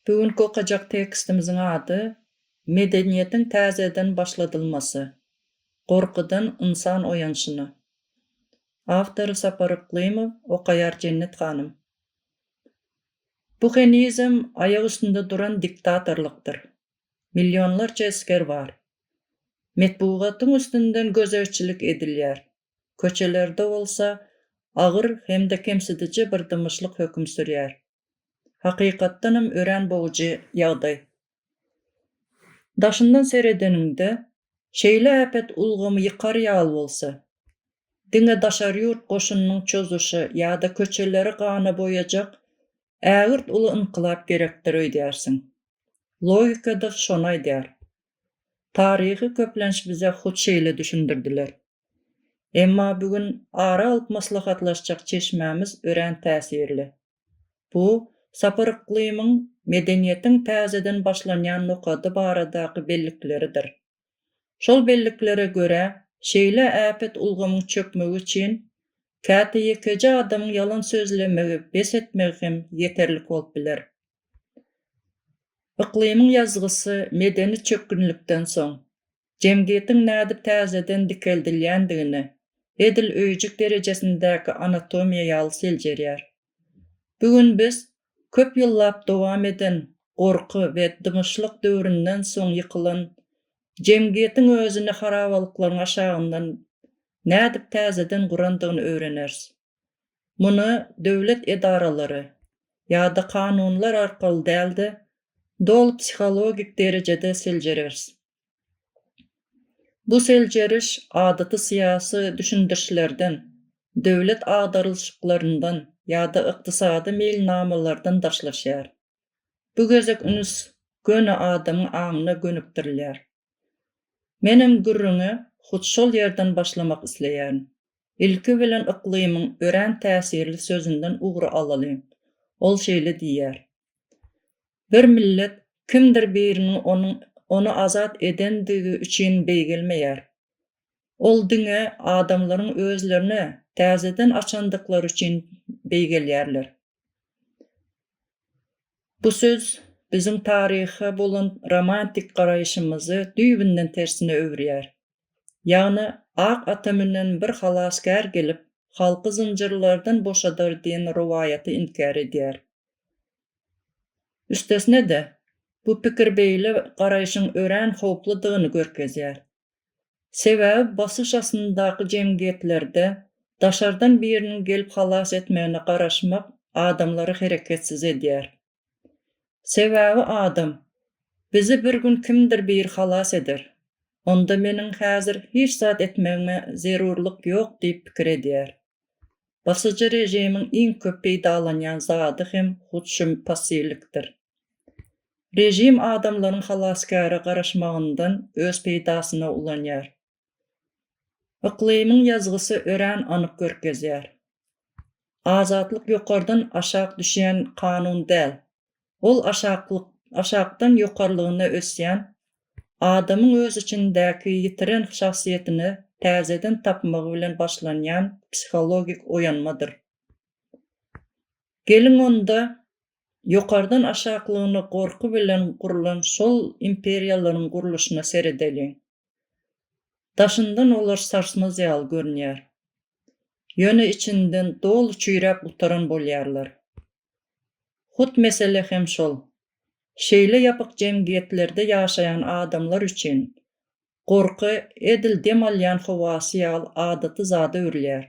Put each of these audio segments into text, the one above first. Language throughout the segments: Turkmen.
Bu günki okajak tekstimiziň ady Medeniýetiň täzeden başladylmasy, gorkudan ynsan oýanşyna. Awtory Sapar Yklymow, okaýar Jennet hanym. Bu henizem aýak üstünde duran diktatorlykdyr. Millionlarça esger bar. Metbugatyň üstünden gözegçilik edilýär. Köçelerde bolsa agyr hem-de kemsidiji bir dymyşlyk höküm sürýär. Hakykatdanam örän bogujy ýagdaý. Daşyndan seredeniňde, şeýle äpet ulgamy ýykar ýaly bolsa, diňe daşary ýurt goşunynyň çozuşy ýa-da köçeleri gana boýajak ägirt uly ynkylap gerekdir öýdýärsiň. Logika-da şony aýdýar. Taryhy köplenç bize hut şeýle düşündirdiler. Emma bu gün ara alyp maslahatlaşjak çeşmämiz örän täsirli. Bu Sapar Yklymyň medeniýetiň täzeden başlanýan nokady baradaky bellikleridir. Şol belliklere görä, şeýle äpet ulgamyň çökmegi üçin käte ýekeje adamyň ýalan sözlemegi, bes etmegi hem ýeterlik bolup biler. Yklymyň ýazgysy medeni çökgünlikden soň, jemgyýetiň nädip täzeden dikeldilýändigine, edil öýjük derejesindäki anatomiýa ýaly seljerýär. Bu gün biz köp ýyllap dowam eden gorky we dymyşlyk döwründen soň ýykylan, jemgyýetiň özüni harabalyklaryň aşagyndan nädip täzeden gurandygyny öwreneris. Muny döwlet edaralary ýa-da kanunlar arkaly däl-de, doly psihologik derejede seljereris. Bu seljeriş adaty syýasy düşündirişlerden, döwlet agdarylyşyklaryndan ýa-da ykdysady meýilnamalardan daşlaşýar. Bu gezek üns göni adamyň aňyna gönükdirilýär. Menem gürrüňe hut şol ýerden başlamak isleýärin. Ilki bilen yklymyň örän täsirli sözünden ugur alalyň. Ol şeýle diýýär. Bir millet kimdir biriniň onuň ony azat edendigi üçin beýgelmeýär. Ol diňe adamlaryň özlerini täzeden açandyklary üçin beýgelýärler. Bu söz biziň taryha bolan romantik garaýşymyzy düýbünden tersine öwürýär. Ýagny ak ata münen bir halasgär gelip, halky zynjyrlardan boşadar diýen rowaýaty inkär edýär. Üstesine-de, bu pikir beýle garaýşyň örän howpludygyny görkezýär. Sebäbi basyş astyndaky jemgyýetlerde daşardan biriniň gelip halas etmegine garaşmak adamlary hereketsiz edýär. Sebäbi adam, Bizi bir gün kimdir biri halas eder. Onda meniň häzir hiç zat etmegime zerurlyk ýok diýip pikir edýär. Basyjy režimiň iň köp peýdalanýan zady hem hut şu müpassylyktdyr. Režim adamlaryň halasgäre garaşmagyndan öz peýdasyna ulanýar. Yklymyň ýazgysy örän anyk görkezýär. Azatlyk ýokardan aşak düşýän kanun däl, Ol aşaklyk, aşakdan ýokarlygyna ösýän, adamyň öz içindäki ýitiren şahsyýetini täzeden tapmagy bilen başlanýan psihologik oýanmadyr. Geliň onda, ýokardan aşaklygyna gorky bilen gurlan şol imperiýalaryň gurluşyna seredeliň. Daşyndan olar sarsmaz ýaly görünýär. Ýöne içinden doly çüýräp gutaran bolýarlar. Hut mesele hem şol. Şeýle ýapyk jemgyýetlerde ýaşaýan adamlar üçin gorky edil dem alýan howasy ýaly adaty zada öwrülýär.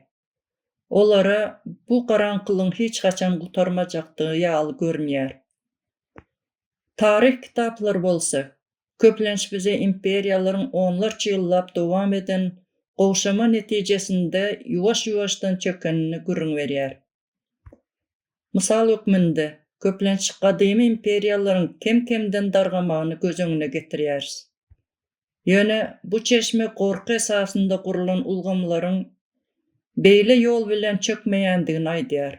Olara bu garaňkylygyň hiç haçan gutarmajakdygy ýaly görünýär. Taryh kitaplary bolsa, köplenç bize imperiýalaryň onlarça ýyllap dowam eden gowşama netijesinde ýuwaş-ýuwaşdan çökenini gürrüň berýär. Mysal hökmünde, köplenç gadymy imperiýalaryň kem-kemden dargamagyny göz öňüne getirýäris. Ýöne bu çeşme gorky esasynda gurlan ulgamlaryň beýle ýol bilen çökmeýändigini aýdýar.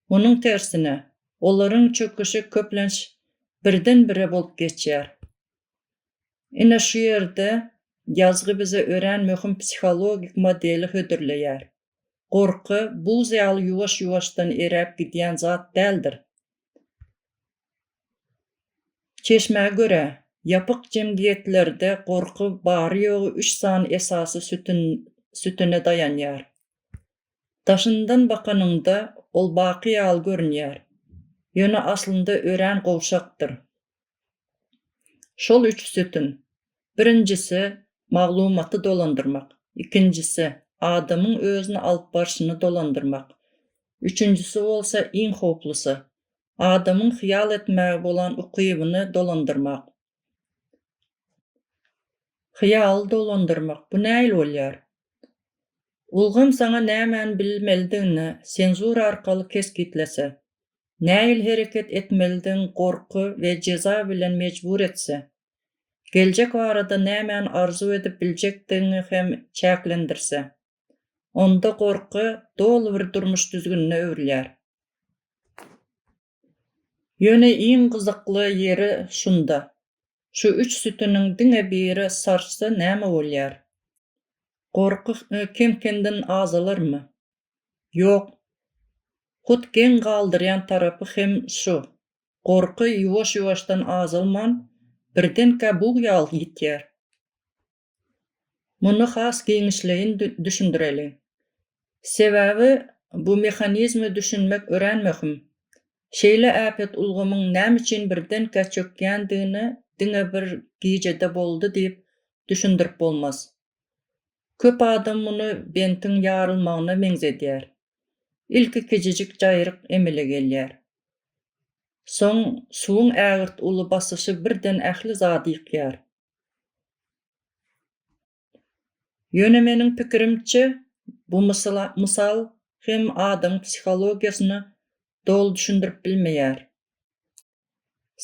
Munuň tersine, olaryň çöküşi köplenç birden-bire bolup geçýär. Ine şu ýerde ýazgy bize örän möhüm psihologik modeli hödürleýär. Gorky, buz ýaly ýuwaş-ýuwaşdan eräp gidýän zat däldir. Çeşmä görä, ýapyk jemgyýetlerde gorky bary-ýogy üç sany esasy sütüne daýanýar. Daşyndan bakanyňda, ol baky ýaly görünýär, ýöne aslynda örän gowşakdyr. Şol üç sütün, birinjisi, maglumaty dolandyrmak, ikinjisi, adamyň özüni alyp barşyny dolandyrmak, üçünjisi bolsa, iň howplusy, adamyň hyýal etmäge bolan ukybyny dolandyrmak. Hyýaly dolandyrmak, bu nähili bolýar? Ulgam saňa nämäni bilmelidigini senzura arkaly kesgitlese, Nähili hereket etmelidigiň gorky we jeza bilen mejbur etse, geljek barada nämäni arzuw edip biljekdigiňi hem çäklendirse, onda gorky doly bir durmuş düzgünine öwrülýär. Ýöne iň gyzykly ýeri şunda, şu üç sütüniň diňe biri sarsy näme bolýar? Gorky kem-kemden azalarmy? Ýok. Hut geň galdyrýan tarapy hem şu. Gorky ýuwaş-ýuwaşdan azalman, birdenkä bug ýaly ýitýär. Muny has giňişleýin düşündireliň. Sebäbi bu mehanizme düşünmek örän möhüm. Şeýle äpet ulgamyň näme üçin birdenkä çökýändigini diňe bir gijede boldy diýip düşündirip bolmaz. Köp adam muny bentiň ýarylmagyna meňzedýär. Ilki kiçijik jaýryk emele gelýär. Soň suwuň ägirt uly basyşy birden ähli zady ýykýar. Ýöne meniň pikirimçe, bu mysal hem adamyň psihologiýasyny doly düşündirip bilmeýär.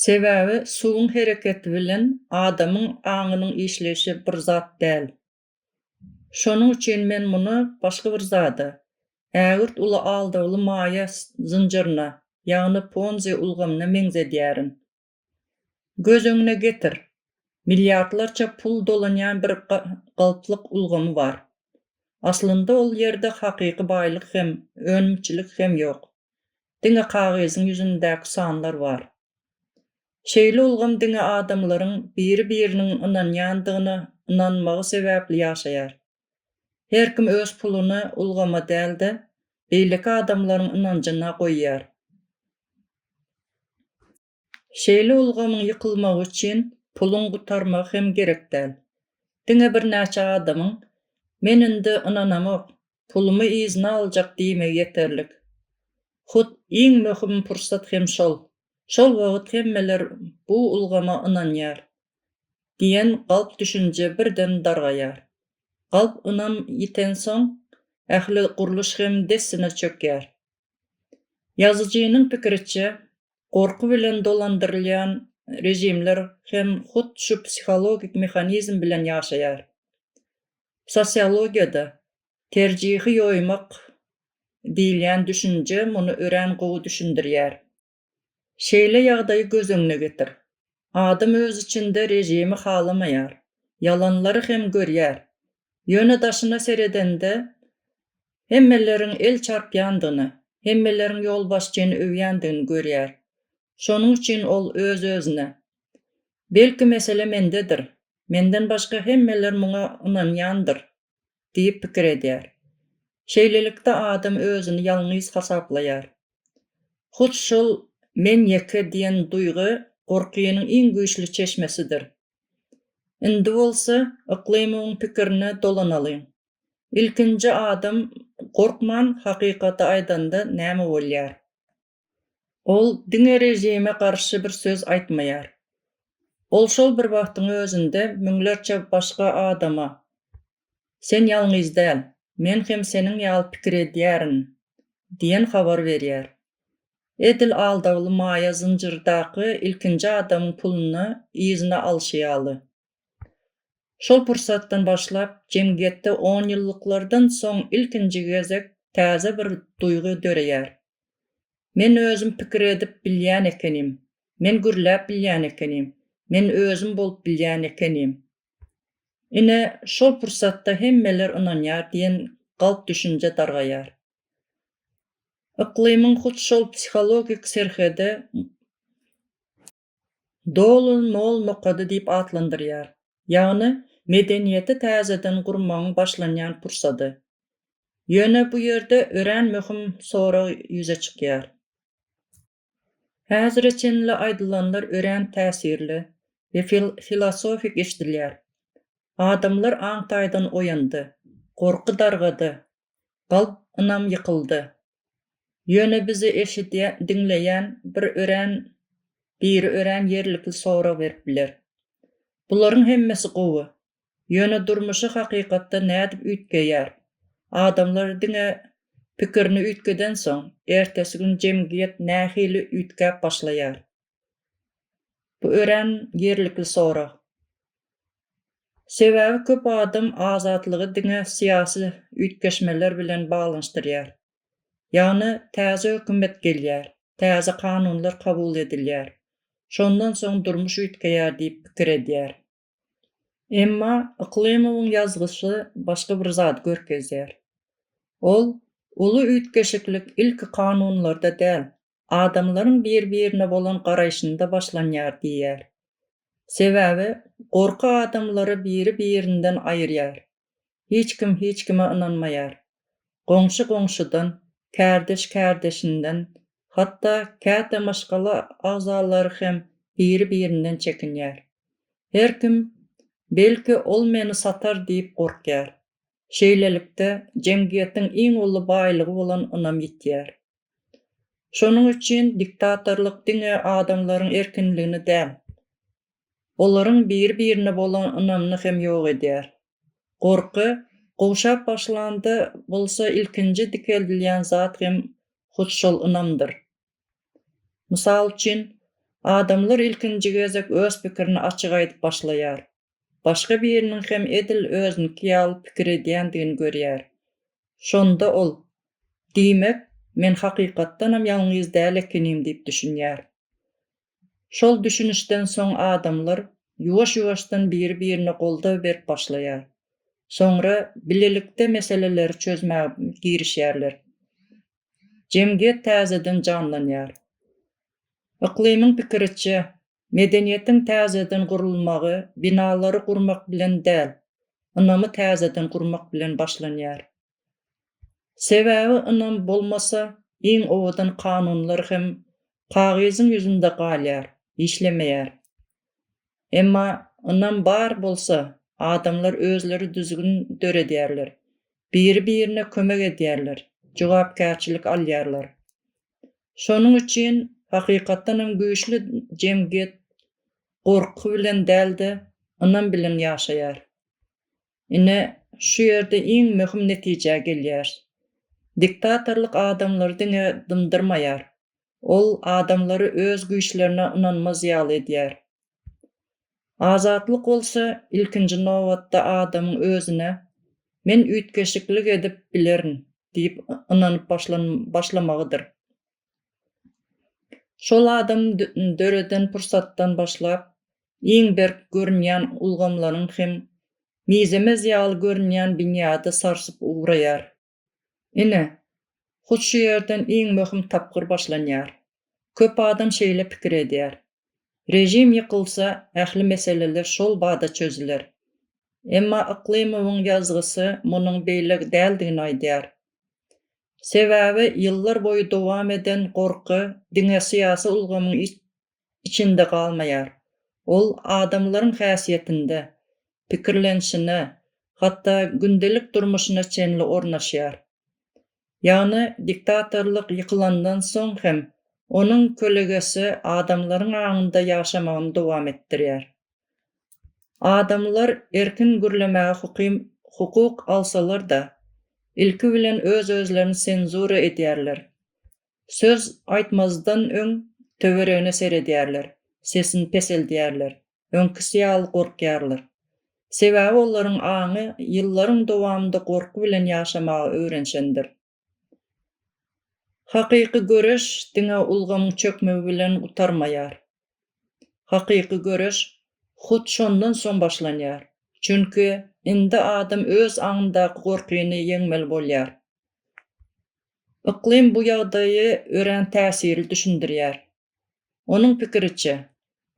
Sebäbi suwuň hereketi bilen adamyň aňynyň işleýşi bir zat däl. Şonuň üçin men muny başga bir zada, ägirt uly aldawly maýa zynjyryna, ýagny Ponzi ulgamyna meňzedýärin. Göz öňüne getir, milliardlarça pul dolanýan bir galplyk ulgamy bar. Aslynda ol ýerde hakyky baýlyk hem, önümçilik hem ýok. Diňe kagyzyň ýüzündäki sanlar bar. Şeýle ulgam diňe adamlaryň biri-biriniň ynanýandygyna ynanmagy sebäpli ýaşaýar. Her kim öz puluny ulgama däl-de, beýleki adamlaryň ynanjyna goýýar. Şeýle ulgamyň ýykylmagy üçin puluň gutarmagy hem gerek däl. Diňe birnäçe adamyň Men indi ynanamok, pulumy yzyna aljak diýmegi ýeterlik. Hut iň möhüm pursat hem şol. Şol wagt hemmeler bu ulgama ynanýar diýen galp düşünje birden dargaýar. Galp ynam ýitensoň, ähli gurluş hem dessine çökýär. Ýazyjynyň pikiriçe, gorky bilen dolandyrylýan režimler hem hut şu psihologik mehanizm bilen ýaşaýar. Sosiologiýada terjihi ýoýmak diýilýän düşünje muny örän gowy düşündirýär. Şeýle ýagdaýy göz öňüne getir. Adam öz içinde režimi halamaýar, ýalanlary hem görýär. Ýöne daşyna seredende, hemmeleriň el çarpýandygyny, hemmeleriň ýolbaşçyny öwýändigini görýär. Şonuň üçin ol öz-özüne, Belki mesele mendedir. Menden başga hemmeler muňa ynanýandyr. diýip pikir edýär. Şeýlelikde adam özüni ýalňyz hasaplaýar. Hut şol Men ýeke diýen duýgy gorkynyň iň güýçli çeşmesidir. Indi bolsa Yklymowyň pikirine dolanalyň. Ilkinji adam gorkman hakykaty aýdanda näme bolýar? Ol diňe režime garşy bir söz aýtmaýar. Ol şol bir wagtyň özünde müňlerçe başga adama, Sen ýalňyz däl, men hem seniň ýaly pikir edýärin diýen habar berýär. Edil aldawly maýa zynjyrdaky ilkinji adamyň puluny yzyna alşy ýaly. Şol pursatdan başlap, jemgyýetde onýyllyklardan soň ilkinji gezek täze bir duýgy döreýär. Men özüm pikir edip bilýän ekenim, men gürläp bilýän ekenim, men özüm bolup bilýän ekenim. Ine, şol pursatda hemmeler ynanýar diýen galp düşünje dargaýar. Yklymyň hut şol psihologik serhedi Dolan Mol nokady diýip atlandyrýar, ýagny medeniýeti täzeden gurmagyň başlanýan pursady. Ýöne bu ýerde örän möhüm sorag ýüze çykýar. Häzire çenli aýdylanlar örän täsirli we filosofik eşidilýär. Adamlar aň taýdan oýandy, gorky dargady, galp ynam ýykyldy. Ýöne bizi eşidýän, diňleýän bir örän, biri örän ýerlikli sorag berip biler. Bularyň hemmesi gowy. Ýöne durmuşy hakykatda nädip üýtgeýär? Adamlar diňe pikirini üýtgedensoň, ertesi gün jemgyýet nähili üýtgäp başlaýar? Bu örän ýerlikli sorag. Sebäbi köp adam azatlygy diňe syýasy üýtgeşmeler bilen baglanyşdyrýar. Ýagny täze hökümet gelýär, täze kanunlar kabul edilýär, şondan soň durmuş üýtgeýär diýip pikir edýär. Emma Yklymowyň ýazgysy başga bir zady görkezýär. Ol uly üýtgeşiklik ilki kanunlarda däl, adamlaryň bir-birine bolan garaýşynda başlanýar diýýär. Sebäbi gorky adamlary biri-birinden aýyrýar, Hiç kim hiç kime ynanmaýar. Goňşy goňşudan, kärdeş kärdeşinden, hatda käte maşgala agzalary hem biri-birinden çekinýär. Her kim belki ol meni satar diýip gorkýar. Şeýlelikde, jemgyýetiň iň uly baýlygy bolan ynam ýitýär. Şonuň üçin diktatorlyk diňe adamlaryň erkinligini däl. olaryň biri-birine bolan ynamyny hem ýok edýär. Gorky gowşap başlanda bolsa ilkinji dikeldilýän zat hem hut şol ynamdyr. Mysal üçin, adamlar ilkinji gezek öz pikirini açyk aýdyp başlaýar, başga biriniň hem edil özüniki ýaly pikir edýändigini görýär. Şonda ol, Diýmek, men hakykatdanam ýalňyz däl ekenim diýip düşünýär. Şol düşünişden soň adamlar ýuwaş-ýuwaşdan biri-birine goldaw berip başlaýar. Soňra bilelikde meseleleri çözmäge girişýärler. Jemgyýet täzeden janlanýar. Yklymyň pikiriçe, medeniýetiň täzeden gurulmagy binalary gurmak bilen däl, ynamy täzeden gurmak bilen başlanýar. Sebäbi ynam bolmasa, iň owadan kanunlar hem kagyzyň ýüzünde galýar, işlemeýär. Emma ynam bar bolsa, adamlar özleri düzgün döredýärler, biri-birine kömek edýärler, jogapkärçilik alýarlar. Şonuň üçin hakykatdan hem güýçli jemgyýet gorky bilen däl-de, ynam bilen ýaşaýar. Ine, şu ýerde iň möhüm netijä gelýäris. Diktatorlyk adamlary diňe dymdyrmaýar, ol adamlary öz güýçlerine ynanmaz ýaly edýär. Azatlyk bolsa ilkinji nobatda adamyň özüne Men üýtgeşiklik edip bilerin diýip ynanyp başlamagydyr. Şol adam döreden pursatdan başlap, iň berk görünýän ulgamlaryň hem mizemez ýaly görünýän binýady sarsyp ugraýar. Ine, hut şu ýerden iň möhüm tapgyr başlanýar. Köp adam şeýle pikir edýär, Režim ýykylsa, ähli meseleler şol bada çözüler. Emma Yklymowyň ýazgysy munuň beýle däldigini aýdýar. Sebäbi ýyllar boýy dowam eden gorky diňe syýasy ulgamyň içinde galmaýar. Ol adamlaryň häsiýetinde, pikirlenişine, hatda gündelik durmuşyna çenli ornaşýar. Ýagny diktatorlyk ýykylandan soň hem onuň kölegesi adamlaryň aňynda ýaşamagyny dowam etdirýär. Adamlar erkin gürlemäge hukim hukuk alsalar-da, ilki bilen öz-özlerini senzura edýärler. Söz aýtmazdan öň töweregine seredýärler, sesini peseldýärler, öňkisi ýaly gorkýarlar. Sebäbi olaryň aňy ýyllaryň dowamynda gorky bilen ýaşamaga öwrenşendir. Hakyky göreş diňe ulgamyň çökmegi bilen gutarmaýar. Hakyky göreş hut şondan soň başlanýar. Çünki indi adam öz aňyndaky gorkyny ýeňmeli bolýar. Yklym bu ýagdaýy örän täsirli düşündirýär. Onuň pikiriçe,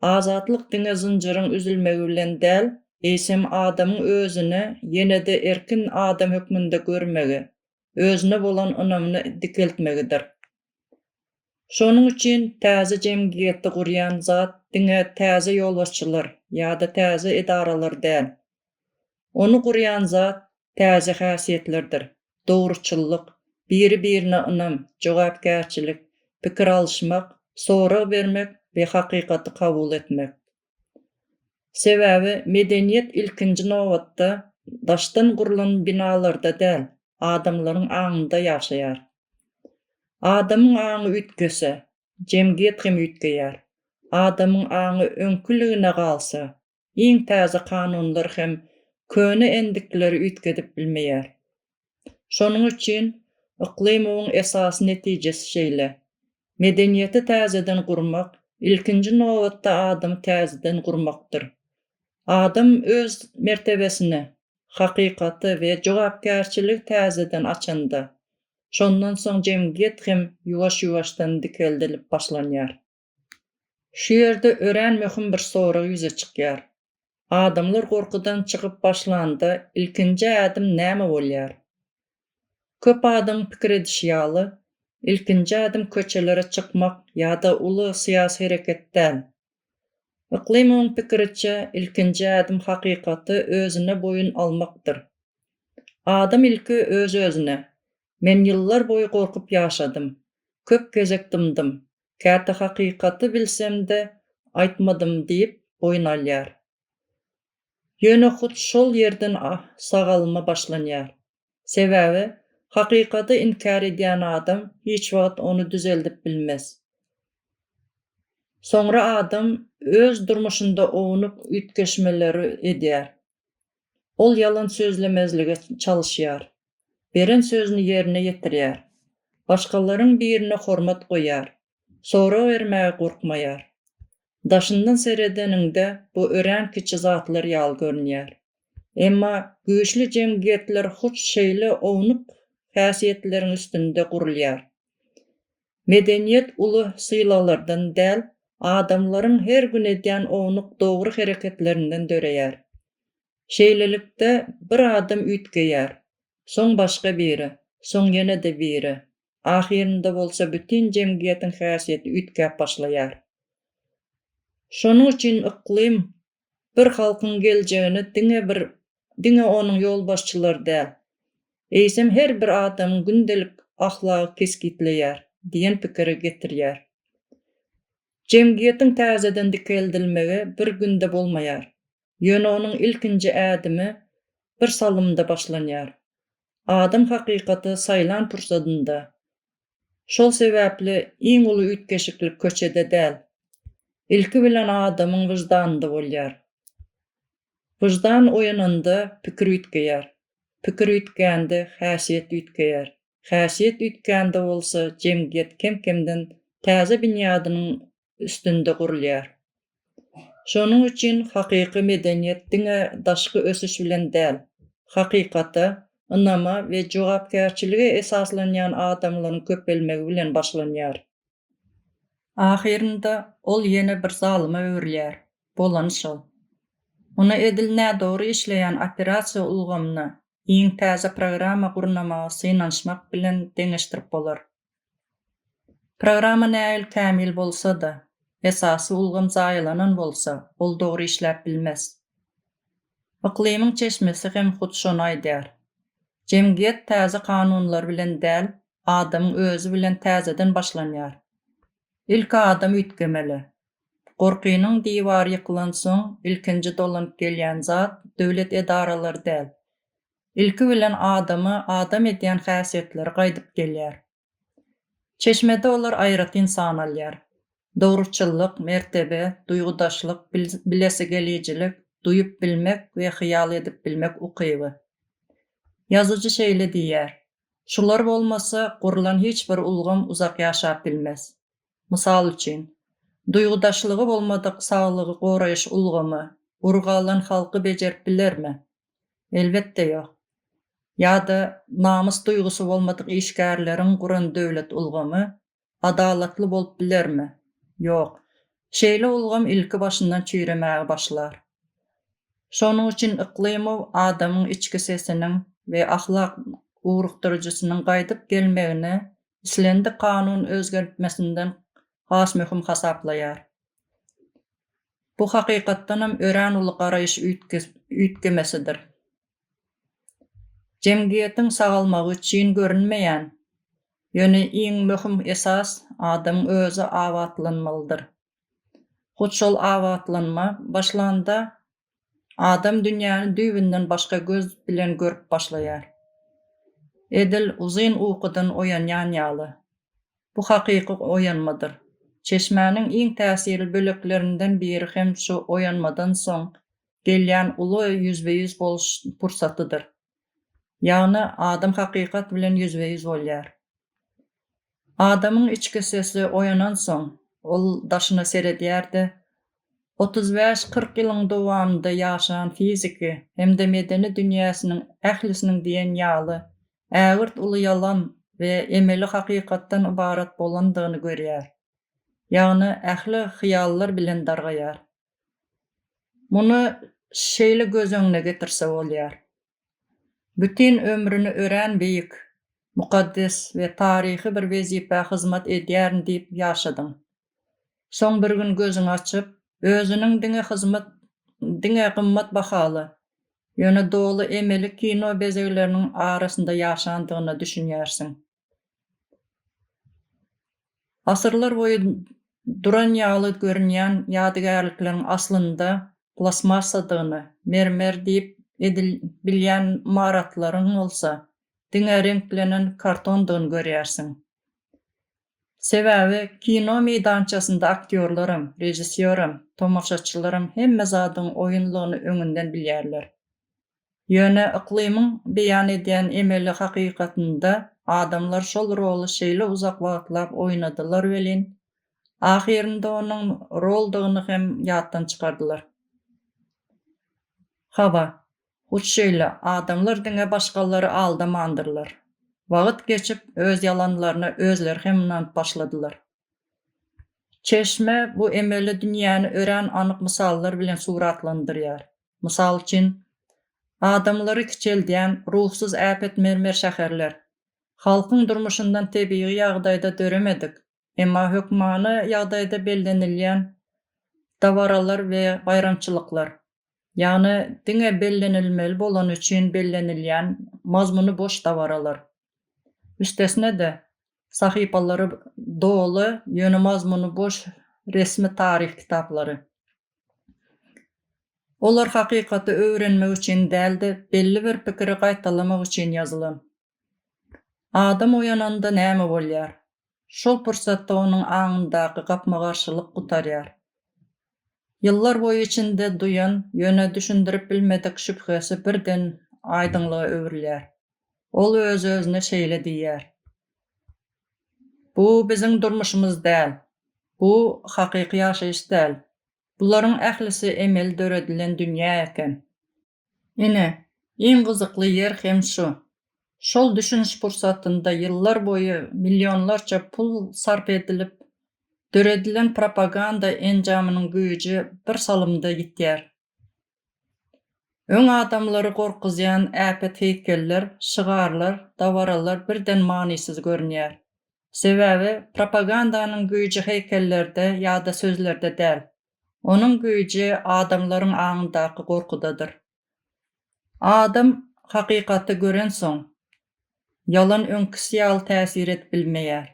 azatlyk diňe zynjyryň üzülmegi bilen däl, eýsem adamyň özüni ýene-de erkin adam hökmünde görmegi, özüne bolan ynamyny dikeltmegidir. Şonuň üçin täze jemgyýeti gurýan zat diňe täze ýolbaşçylar ýa-da täze edaralar däl, Ony gurýan zat täze häsiýetlerdir, dogruçyllyk, biri-birine ynam, jogapkärçilik, pikir alyşmak, sorag bermek we hakykaty kabul etmek. Sebäbi medeniýet ilkinji nobatda daşdan gurlan binalarda däl, adamlaryň aňynda ýaşaýar. Adamyň aňy üýtgese, jemgyýet hem üýtgeýär. Adamyň aňy öňküligine galsa, iň täze kanunlar hem köne endikleri üýtgedip bilmeýär. Şonuň üçin Yklymowyň esasy netijesi şeýle, Medeniýeti täzeden gurmak, ilkinji nobatda adamy täzeden gurmakdyr. Adam öz mertebesini, hakykaty we jogapkärçiligi täzeden açanda, şondan soň jemgyýet hem ýuwaş-ýuwaşdan dikeldilip başlanýar. Şu ýerde örän möhüm bir sorag ýüze çykýar. Adamlar gorkudan çykyp başlanda ilkinji ädim näme bolýar? Köp adamyň pikir edişi ýaly, ilkinji ädim köçelere çykmak ýa-da uly syýasy hereket däl. Yklymowyň pikiriçe, ilkinji ädim hakykaty özüne boýun almakdyr. Adam ilki öz-özüne, Men ýyllar boýy gorkup ýaşadym. Köp gezek dymdym. Käte hakykaty bilsem-de, aýtmadym diýip boýun alýar. Ýöne hut şol ýerden sagalma başlanýar. Sebäbi hakykady inkär edýän adam hiç wagt ony düzeldip bilmez. Soňra adam öz durmuşynda ownuk üýtgeşmeleri edýär. Ol ýalan sözlemezlige çalyşýar, beren sözüni ýerine ýetirýär, başgalaryň birine hormat goýýar, sorag bermäge gorkmaýar. Daşyndan seredeniňde bu örän kiçi zatlar ýaly görünýär. Emma güýçli jemgyýetler hut şeýle ownuk häsiýetleriň üstünde gurulýar. Medeniýet uly sylaglardan däl, adamlaryň her gün edýän ownuk dogry hereketlerinden döreýär. Şeýlelikde, bir adam üýtgeýär, soň başga biri, soň ýene-de biri, ahyrynda bolsa bütin jemgyýetiň häsiýeti üýtgäp başlaýar. Şonuň üçin yklym bir halkyň geljegini diňe bir diňe onuň ýolbaşçylary däl, eýsem her bir adamyň gündelik ahlagy kesgitleýär diýen pikire getirýär. Jemgyýetiň täzeden dikeldilmegi bir günde bolmaýar, ýöne onuň ilkinji ädimi bir salymda başlanýar. Adam hakykaty saýlan pursadynda, Şol sebäpli iň uly üýtgeşiklik köçede däl, ilki bilen adamyň wyždanynda bolýar. Wyždan oýananda pikir üýtgeýär, pikir üýtgände häsiýet üýtgeýär, häsiýet üýtgände bolsa jemgyýet kem-kemden täze binýadynyň üstünde gurulýar. Şonuň üçin hakyky medeniýet diňe daşky ösüş bilen däl, hakykata, ynama we jogapkärçilige esaslanýan adamlaryň köpelmegi bilen başlanýar. Ahyrynda ol ýene bir zalyma öwrülýär, bolany şol. Muny edil nädogry işleýän operasiýa ulgamyna iň täze programma gurnamagy synanyşmak bilen deňeşdirip bolar. Programma nähili kämil bolsa-da, esasy ulgam zaýalanan bolsa, ol dogry işläp bilmez. Yklymyň çeşmesi hem hut şony aýdýar. Jemgyýet täze kanunlar bilen däl, adamyň özi bilen täzeden başlanýar. Ilki adam üýtgemeli. Gorkynyň diwary ýykylansoň, ilkinji dolanyp gelýän zat döwlet edaralary däl, ilki bilen adamy adam edýän häsiýetleri gaýdyp gelýär. Çeşmede olar aýratyn san alýar. Dogruçyllyk, mertebe, duýgudaşlyk, bilesigelijilik, duýup bilmek we hyýal edip bilmek ukyby. Ýazyjy şeýle diýýär, Şular bolmasa, gurlan hiç bir ulgam uzak ýaşap bilmez. Mysal üçin, duýgudaşlygy bolmadyk saglygy goraýyş ulgamy urug alan halky bejerip bilermi? Elbetde ýok. Ýa-da namys duýgusy bolmadyk işgärleriň guran döwlet ulgamy adalatly bolup bilermi? Ýok. Şeýle ulgam ilki başyndan çüýremäge başlar. Şonuň üçin Yklymow adamyň içki sesiniň we ahlak ugrukdyryjysynyň gaýdyp gelmegini islendik kanun özgertmesinden has möhüm hasaplaýar. Bu hakykatdanam örän uly garaýyş üýtgemesidir. Jemgyýetiň sagalmagy çyn görünmeýän, ýöne iň möhüm esas adamyň özi abatlanmalydyr. Hut şol abatlanma başlanda adam dünýäni düýbünden başga göz bilen görüp başlaýar. Edil uzyn ukydan oýanýan ýaly, Bu hakyky oýanmadyr. Çeşmäniň iň täsirli böleklerinden biri hem şu oýanmadan soň gelýän uly ýüzbe-ýüz boluş pursatydyr. Ýagny adam hakykat bilen ýüzbe-ýüz bolýar. Adamyň içki sesi oýanansoň, ol daşyna seredýär-de, otuz bäş-kyrk ýylyň dowamynda ýaşan fiziki hem-de medeni dünýäsiniň ählisiniň diýen ýaly ägirt uly ýalan we emeli hakykatdan ybarat bolandygyny görýär. Ýagny ähli hyýallar bilen dargaýar. Muny şeýle göz öňüne getirse bolýar. Bütin ömrüni örän beýik, mukaddes we taryhy bir wezipä hyzmat edýärin diýip ýaşadyň. Soň bir gün gözüňi açyp, özüniň diňe hyzmat diňe gymmat bahaly, ýöne doly emeli kino bezegleriniň arasynda ýaşandygyna düşünýärsiň. Asyrlar boýy duran ýaly görünýän ýadygärlikleriň aslynda plastmassadygyny, mermer diýip edil bilýän ymaratlaryň bolsa diňe reňklenen kartondygyny görýärsiň. Sebäbi kino meýdançasynda aktýorlaram, režissýoram, tomaşaçylaram hemme zadyň oýunlygyny öňünden bilýärler. Ýöne yklymyň beýan edýän emeli hakykatynda adamlar şol roly şeýle uzak wagtlap oýnadylar welin, ahyrynda onuň roldygyny hem ýatdan çykardylar. Hawa, Hut şeýle, adamlar diňe başgalary aldamandyrlar. Wagt geçip, öz ýalanlaryna özleri hem ynanyp başladylar. Çeşme bu emeli dünýäni örän anyk mysallar bilen suratlandyrýar. Mysal üçin, adamlary kiçeldýän ruhsuz äpet mermer şäherler, halkyň durmuşyndan tebigy ýagdaýda döremedik, Emma hökmany ýagdaýda bellenilýän dabaralar we baýramçylyklar, ýagny diňe bellenilmeli bolany üçin bellenilýän mazmuny boş dabaralar, üstesine-de, sahypalary doly, ýöne mazmuny boş resmi taryh kitaplary. Olar hakykaty öwrenmek üçin däl-de, belli bir pikiri gaýtalamak üçin ýazylan. Adam oýananda näme bolýar? Şol pursatda onuň aňyndaky gapma-garşylyk gutarýar. Ýyllar boýy içinde duýan, ýöne düşündirip bilmedik şübhesi birden aýdyňlyga öwrülýär. Ol öz-özüne şeýle diýýär, Bu biziň durmuşymyz däl. Bu hakyky ýaşaýyş däl. Bularyň ählisi emeli döredilen dünýä eken. Ine, iň gyzykly ýer hem şu. Şol düşüniş pursatynda ýyllar boýy millionlarça pul sarp edilip, döredilen propaganda enjamynyň güýji bir salymda ýitýär. Öň adamlary gorkuzýan äpet heýkeller, şygarlar, dabaralar birden manysyz görünýär. Sebäbi propagandanyň güýji heýkellerde ýa-da sözlerde däl, Onuň güýji adamlaryň aňyndaky gorkudadyr. Adam hakykaty görensoň, ýalan öňküsi ýaly täsir edip bilmeýär.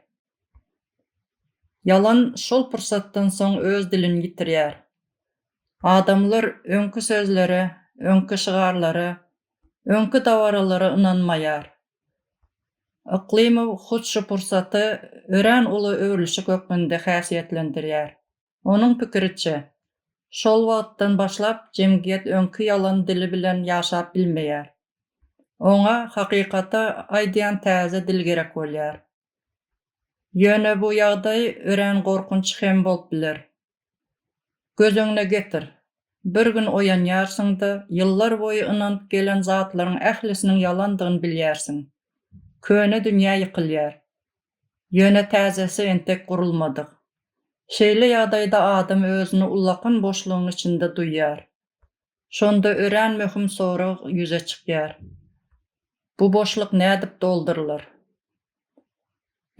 Ýalan şol pursatdan soň öz dilini ýitirýär. Adamlar öňki sözlere, öňki şygarlara, öňki dabaralara ynanmaýar. Yklymow hut şu pursaty örän uly öwrülişik hökmünde häsiýetlendirýär. Onuň pikiriçe, şol wagtdan başlap jemgyýet öňki ýalan dili bilen ýaşap bilmeýär. Oňa hakykaty aýdýan täze dil gerek bolýar. Ýöne bu ýagdaý örän gorkunç hem bolup biler. Göz öňüne getir, bir gün oýanýarsyň-da, ýyllar boýy ynanyp gelen zatlaryň ählisiniň ýalandygyny bilýärsiň. Köne dünýä ýykylýar. Ýöne täjesi entek gurulmadyk. Şeýle ýagdaýda adam özüni ullakan boşlugyň içinde duýýar. Şonda örän möhüm sorag ýüze çykýar. Bu boşluk nädip doldurylar?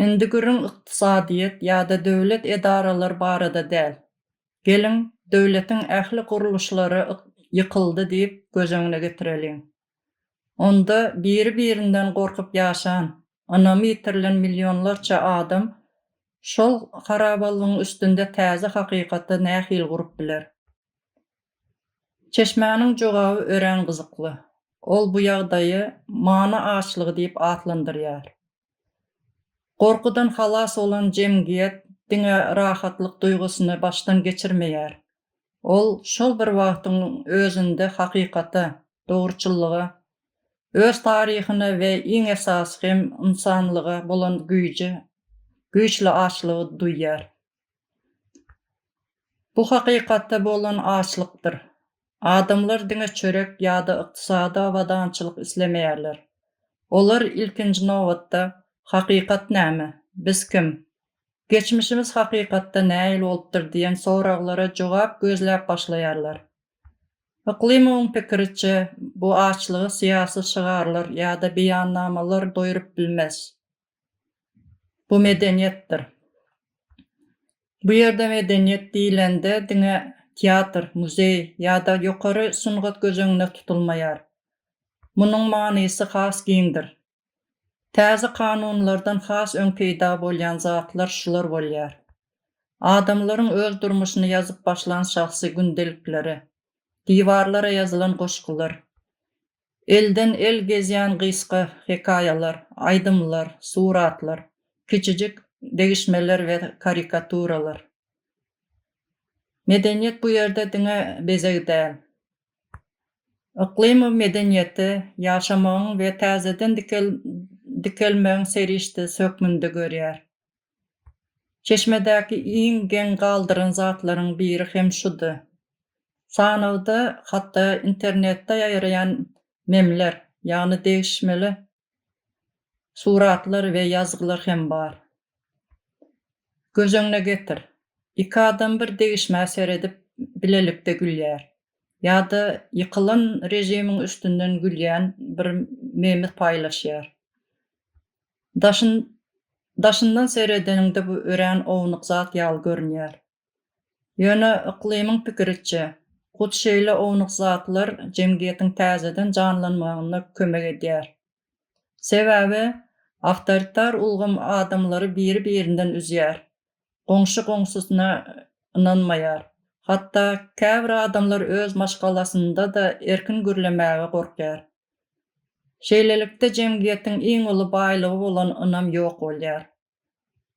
Indi gürrüň ykdysadyýet ýa-da döwlet edaralary barada däl. Geliň, döwletiň ähli gurluşlary ýykyldy diýip göz öňüne getireliň. Onda biri-birinden gorkup ýaşan, ynamy ýitirilen millionlarça adam şol harabalygyň üstünde täze hakykaty nähili gurup biler? Çeşmäniň jogaby örän gyzykly. Ol bu ýagdaýy many açlygy diýip atlandyrýar. Gorkudan halas bolan jemgyýet diňe rahatlyk duýgusyny başdan geçirmeýär. Ol şol bir wagtyň özünde hakykata, dogruçyllyga, öz taryhyna we iň esasy hem ynsanlyga bolan güýje güýçli açlygy duýýar. Bu hakykata bolan açlykdyr. Adamlar diňe çörek ýa-da ykdysady abadançylyk islemeýärler. Olar, ilkinji nobatda, Hakykat näme? Biz kim? Geçmişimiz hakykatda nähili bolupdyr diýen soraglara jogap gözläp başlaýarlar. Yklymowyň pikiriçe, bu açlygy syýasy şygarlar ýa-da beýannamalar doýrup bilmez. Bu medeniýetdir. Bu ýerde medeniýet diýlende diňe teatr, muzeý ýa-da ýokary sungat göz öňüne tutulmaýar. Munuň manysy has giňdir. Täze kanunlardan has öň peýda bolýan zatlar şular bolýar. Adamlaryň öz durmuşyny ýazyp başlan şahsy gündelikleri, diwarlara ýazylan goşgular, Elden-el gezýän gysga hekaýalar, aýdymlar, suratlar, kiçijik degişmeler we karikaturalar. Medeniýet bu ýerde diňe bezeg däl. Yklymow medeniýeti ýaşamagyň we täzeden dikelmegiň serişdesi hökmünde görýär. Çeşmedäki iň geň galdyran zatlaryň biri hem şudy. Sanawda hatda internetde ýaýraýan memler, ýagny degişmeli suratlar we ýazgylar hem bar. Göz öňüne getir, iki adam bir degişmä seredip bilelikde gülýär, ýa-da ýykylan režimiň üstünden gülýän bir memi paýlaşýar. Daşyn, daşyndan seredeniňde bu örän ownuk zat ýaly görünýär. Ýöne Yklymyň pikiriçe, hut şeýle ownuk zatlar jemgyýetiň täzeden janlanmagynda kömek edýär. Sebäbi awtoritar ulgam adamlary biri-birinden üzýär, Goňşy goňşusyna ynanmaýar. Hatda käbir adamlar öz maşgalasynda-da erkin gürlemäge gorkýar. Şeýlelikde jemgyýetiň iň uly baýlygy bolan ynam ýok bolýar.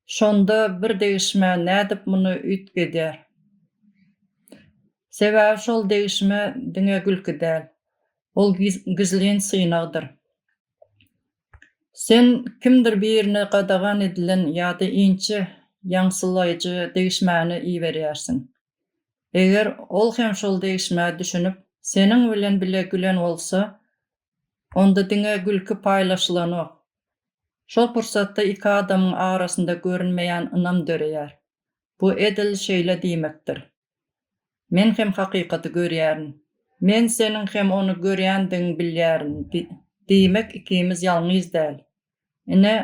Şonda bir degişmä nädip muny üýtgedýär? Sebäbi şol degişme diňe gülki däl. Ol gizlin synagdyr. Sen kimdir birine gadagan edilen ýa-da inçe ýaňsylaýjy degişmäni iberýärsiň. Eger ol hem şol degişmä düşünip, seniň bilen bile gülen bolsa, onda diňe gülki paýlaşylanok. Şol pursatda iki adamyň arasynda görünmeýän ynam döreýär. Bu edil şeýle diýmekdir. Men hem hakykaty görýärin. Men seniň hem ony görýändigiňi bilýärin. Diýmek, ikimiz ýalňyz däl. Ine,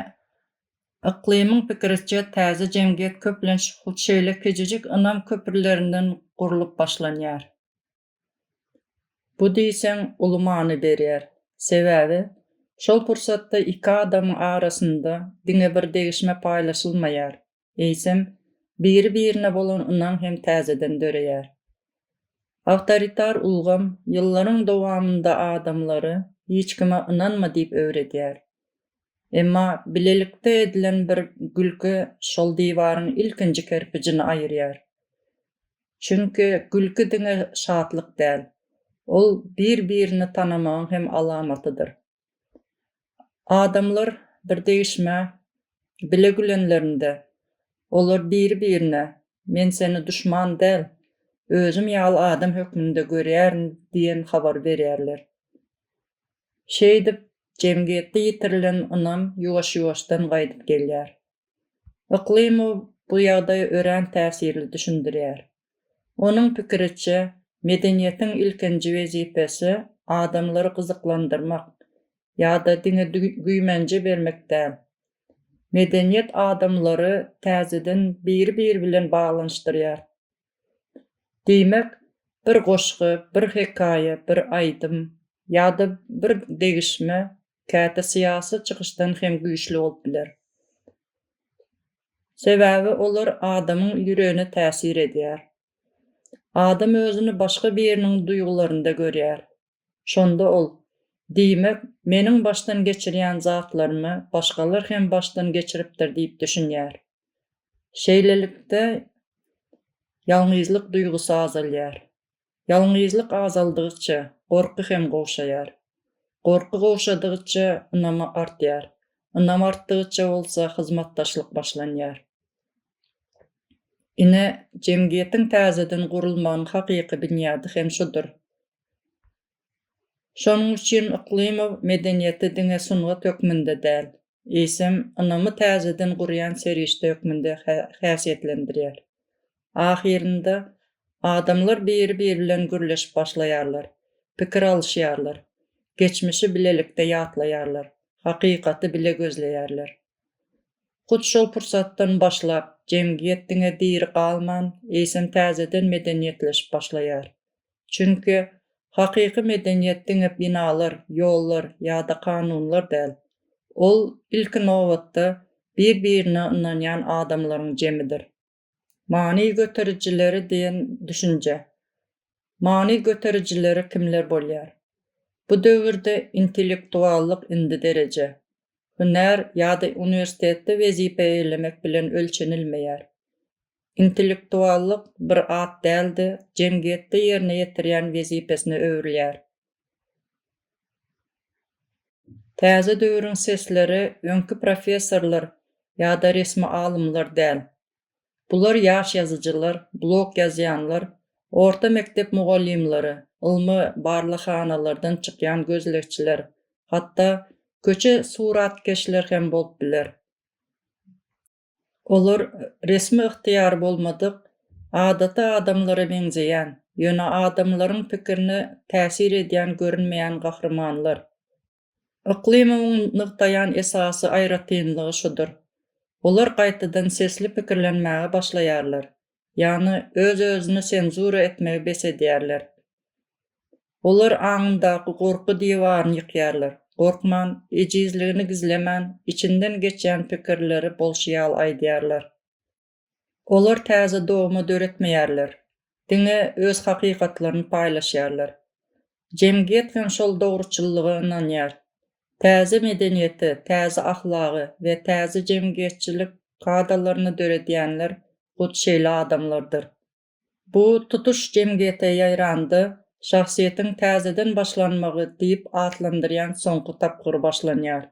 Yklymyň pikiriçe, täze jemgyýet köplenç hut şeýle kiçijik ynam köprülerinden gurlup başlanýar. Bu diýseň uly many berýär. Sebäbi, şol pursatda iki adamyň arasynda diňe bir degişme paýlaşylmaýar, eýsem, biri-birine bolan ynam hem täzeden döreýär. Awtoritar ulgam ýyllaryň dowamynda adamlary hiç kime ynanma diýip öwredýär. Emma bilelikde edilen bir gülki şol diwaryň ilkinji kerpijini aýyrýar. Çünki gülki diňe şatlyk däl, ol bir-birini tanamagyň hem alamatydyr. Adamlar bir degişmä bile gülenlerinde, olar biri-birine Men seni duşman däl, özüm ýaly adam hökmünde görýärin diýen habary berýärler. Şeýdip, jemgyýetde ýitirilen ynam ýuwaş-ýuwaşdan gaýdyp gelýär. Yklymow bu ýagdaýy örän täsirli düşündirýär. Onuň pikiriçe, medeniýetiň ilkinji wezipesi adamlary gyzyklandyrmak ýa-da diňe güýmenje bermek däl. Medeniýet adamlary täzeden biri-biri bilen baglanyşdyrýar. Diýmek, bir goşgy, bir hekaýa, bir aýdym ýa-da bir degişme käte syýasy çykyşdan hem güýçli bolup biler. Sebäbi olar adamyň ýüregine täsir edýär. Adam özüni başga biriniň duýgularynda görýär. Şonda ol, Diýmek, meniň başdan geçirýän zatlarymy başgalar hem başdan geçiripdir diýip düşünýär. Şeýlelikde, ýalňyzlyk duýgusy azalýar. Ýalňyzlyk azaldygyça, gorky hem gowşaýar. Gorky gowşadygyça, ynama artýar. Ynam artdygyça bolsa, hyzmatdaşlyk başlanýar. Ine, jemgyýetiň täzeden gurulmagynyň hakyky binýady hem şudur. Şonuň üçin Yklymow medeniýeti diňe sungat hökmünde däl, eýsem, ynamy täzeden gurýan serişde hökmünde häsiýetlendirýär. Ahyrynda, adamlar biri-biri bilen gürleşip başlaýarlar, pikir alyşýarlar, geçmişi bilelikde ýatlaýarlar, hakykaty bile gözleýärler. Hut şol pursatdan başlap, jemgyýet diňe diri galman, eýsem täzeden medeniýetleşip başlaýar, Çünki hakyky medeniýet diňe binalar, ýollar ýa-da kanunlar däl. Ol, ilki nobatda, bir-birine ynanýan adamlaryň jemidir. Many göterijileri diýen düşünje. Many göterijileri kimler bolýar? Bu döwürde intellektuallyk indi dereje, hünär ýa-da uniwersitetde wezipe eglemek bilen ölçenilmeýär. Intellektuallyk bir at däl-de, jemgyýetde ýerine ýetirýän wezipesine öwrülýär. Täze döwrüň sesleri öňki professorlar ýa-da resmi alymlar däl. Bular ýaş ýazyjylar, blog ýazýanlar, orta mekdep mugallymlary, ylmy barlaghanalardan çykýan gözlegçiler, hatda köçe suratkeşler hem bolup biler. Olar resmi ygtyýary bolmadyk, adaty adamlara meňzeýän, ýöne adamlaryň pikirine täsir edýän görünmeýän gahrymanlar. Yklymyň nygtaýan esasy aýratynlygy şudur, olar gaýtadan sesli pikirlenmäge başlaýarlar, ýagny öz-özüni senzura etmegi bes edýärler. Olar aňyndaky gorky diwaryny ýykýarlar, gorkman, ejizligini gizlemän, içinden geçýän pikirleri bolşy ýaly aýdýarlar. Olar täze dogma döretmeýärler, diňe öz hakykatlaryny paýlaşýarlar. Jemgyýet hem şol dogruçyllyga ynanýar, Täze medeniýeti, täze ahlagy we täze jemgyýetçilik kadalaryny döredýänler hut şeýle adamlardyr. Bu tutuş jemgyýete ýaýranda şahsyýetiň täzeden başlanmagy diýip atlandyrýan soňky tapgyry başlanýar.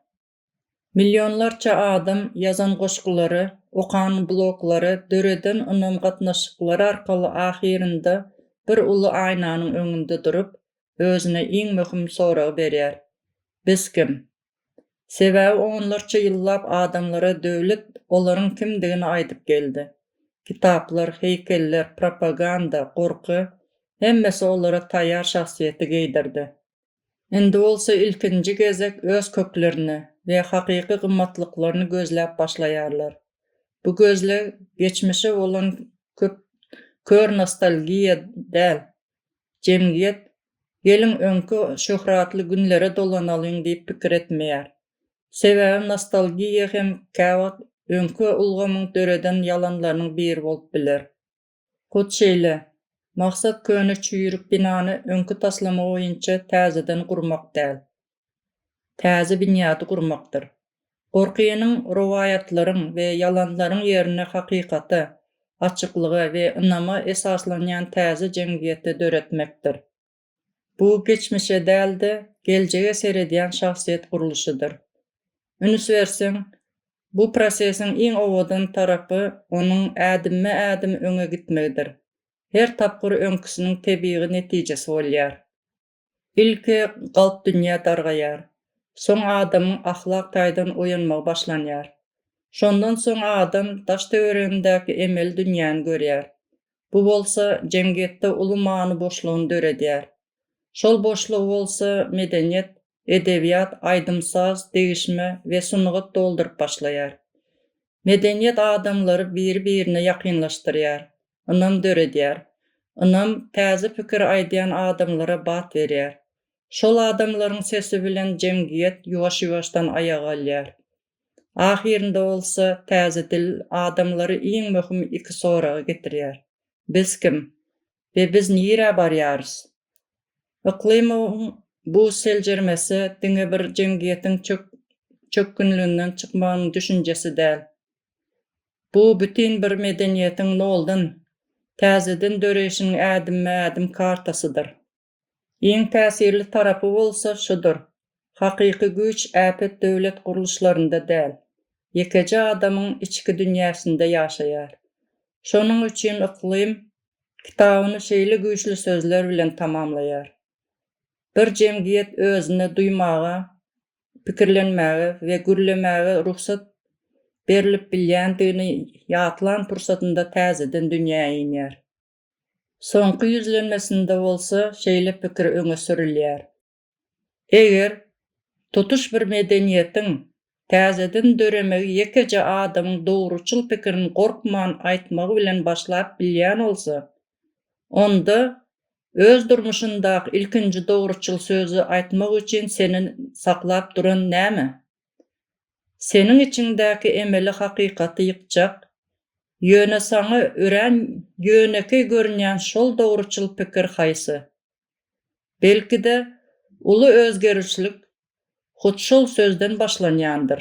Millionlarça adam ýazan goşgulary, okan bloglary, döreden ynam gatnaşyklary arkaly ahyrynda bir uly aýnanyň öňünde durup, özüne iň möhüm soragy berýär, Biz kim? Sebäbi onlarça ýyllap adamlara döwlet olaryň kimdigini aýdyp geldi. Kitaplar, heýkeller, propaganda, gorky, hemmesi olara taýýar şahsyýeti geýdirdi. Indi bolsa ilkinji gezek öz köklerini we hakyky gymmatlyklaryny gözläp başlaýarlar. Bu gözleg geçmişe bolan köp kör nostalgiýa däl, jemgyýet Geliň öňki şöhratly günlere dolanalyň diýip pikir etmeýär. Sebäbi nostalgiýa hem käwagt öňki ulgamyň döreden ýalanlarynyň biri bolup biler. Hut şeýle, maksat köne çüýrük binany öňki taslama boýunça täzeden gurmak däl, täze binýady gurmakdyr. Gorkynyň rowaýatlaryň we ýalanlaryň ýerine hakykata, açyklyga we ynama esaslanýan täze jemgyýeti döretmekdir. Bu geçmişe däl-de, geljege seredýän şahsyýet gurluşydyr. Ünüs berseň, bu prosesiň iň owadan tarapy onuň ädimme-ädim öňe gitmegidir. Her tapgyr öňküsiniň tebigy netijesi bolýar. Ilki galp dünýä dargaýar. Soň adamyň ahlak taýdan oýanmagy başlanýar. Şondan soň adam daş-töweregindäki emeli dünýäni görýär. Bu bolsa jemgyýetde uly many boşlugyny döredýär. Şol boşlugy bolsa medeniýet, edebiýat, aýdym-saz, degişme we sungat dolduryp başlaýar. Medeniýet adamlary biri-birine ýakynlaşdyrýar, ynam döredýär. Ynam täze pikir aýdýan adamlara bat berýär. Şol adamlaryň sesi bilen jemgyýet ýuwaş-ýuwaşdan aýak alýar. Ahyrynda bolsa täze dil adamlary iň möhüm iki soraga getirýär, Biz kim? we Biz nirä barýarys? Yklymowyň bu seljermesi diňe bir jemgyýetiň çökgünliginden çykmagynyň düşünjesi däl. Bu bütin bir medeniýetiň noldan, täzeden döreýşiniň ädimme-ädim kartasydyr. Iň täsirli tarapy bolsa şudur, hakyky güýç äpet döwlet gurluşlarynda däl, ýekeje adamyň içki dünýäsinde ýaşaýar. Şonuň üçin Yklym kitabyny şeýle güýçli sözler bilen tamamlaýar, Bir jemgyýet özüne duýmaga pikirlenmäge we gürlemäge rugsat berlip bilýändigini ýatlan pursatynda täzeden dünýä inýär. Soňky ýüzlenmesinde bolsa şeýle pikir öňe sürülýär. Eger tutuş bir medeniýetiň täzeden döremegi ýekeje adamyň dogruçyl pikirini gorkman aýtmagy bilen başlap bilýän bolsa, onda öz durmuşyndaky ilkinji dogruçyl sözi aýtmak üçin seni saklap duran näme? Seniň içiňdäki emeli hakykaty ýykjak, ýöne saňa örän ýönekeý görünýän şol dogruçyl pikir haýsy? Belki-de, uly özgerişlik hut şol sözden başlanýandyr.